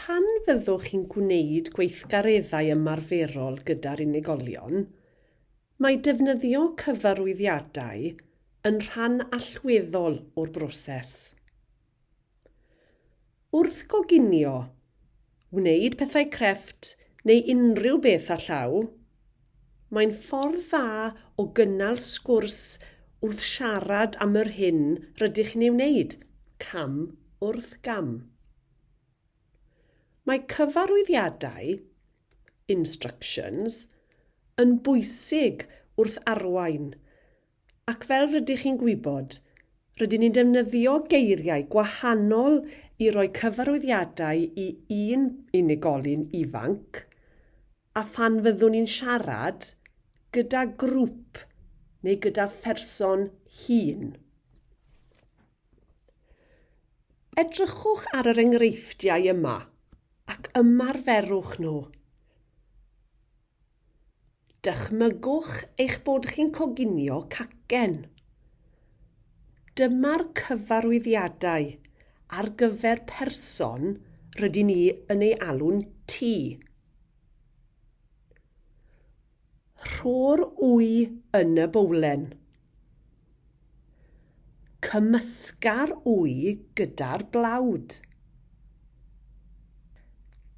Pan fyddwch chi'n gwneud gweithgareddau ymarferol gyda'r unigolion, mae defnyddio cyfarwyddiadau yn rhan allweddol o'r broses. Wrth goginio, wneud pethau crefft neu unrhyw beth â llaw, mae'n ffordd dda o gynnal sgwrs wrth siarad am yr hyn rydych chi'n ei wneud, cam wrth gam. Mae cyfarwyddiadau, instructions, yn bwysig wrth arwain Ac fel rydych chi'n gwybod, rydyn ni'n defnyddio geiriau gwahanol i roi cyfarwyddiadau i un unigolyn ifanc, a phan fyddwn ni'n siarad gyda grŵp neu gyda pherson hŷn. Edrychwch ar yr enghreifftiau yma ac ymarferwch nhw. Dychmygwch eich bod chi'n coginio cacen. Dyma'r cyfarwyddiadau ar gyfer person rydyn ni yn ei alw'n T. Rho'r wy yn y bowlen. Cymysga'r wy gyda'r blawd.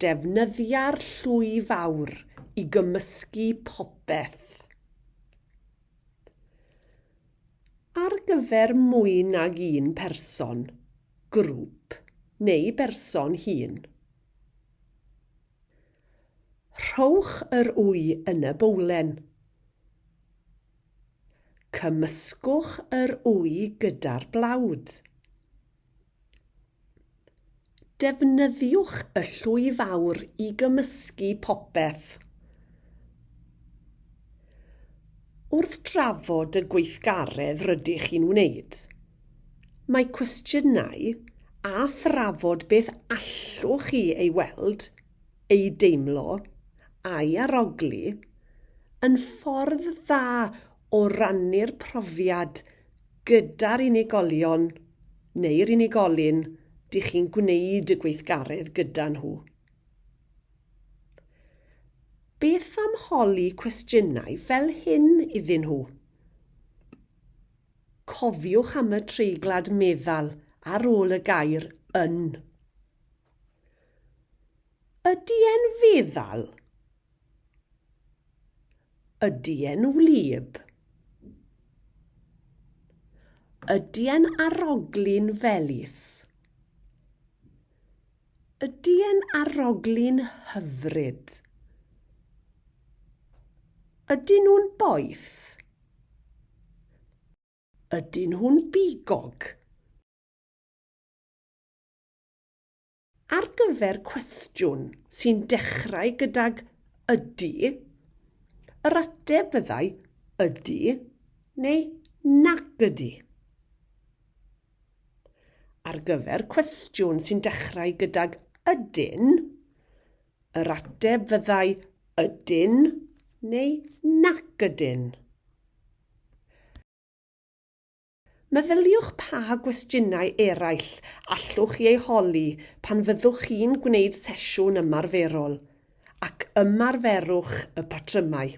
Defnyddia'r llwy fawr i gymysgu popeth. Ar gyfer mwy nag un person, grŵp neu berson hŷn. Rhowch yr wy yn y bowlen. Cymysgwch yr wy gyda'r blawd. Defnyddiwch y llwy fawr i gymysgu popeth. Wrth drafod y gweithgaredd rydych chi'n wneud, mae cwestiynau a thrafod beth allwch chi ei weld ei deimlo a'i arogli yn ffordd dda o rannu'r profiad gyda'r unigolion neu'r unigolyn dych chi'n gwneud y gweithgaredd gyda nhw. Beth am holi cwestiynau fel hyn iddyn nhw? Cofiwch am y treiglad meddal ar ôl y gair 'yn'. Ydy e'n feddal? Ydy e'n wlyb? Ydy e'n aroglu'n felys? Ydy e'n aroglu'n hyfryd? Ydyn nhw'n boeth? Ydyn nhw'n bigog? Ar gyfer cwestiwn sy'n dechrau gydag ydy, yr ateb fyddai ydy neu nac ydy. Ar gyfer cwestiwn sy'n dechrau gydag ydyn, yr ateb fyddai ydyn neu nac ydyn. Meddyliwch pa gwestiynau eraill allwch chi eu holi pan fyddwch chi'n gwneud sesiwn ymarferol, ac ymarferwch y patrymau.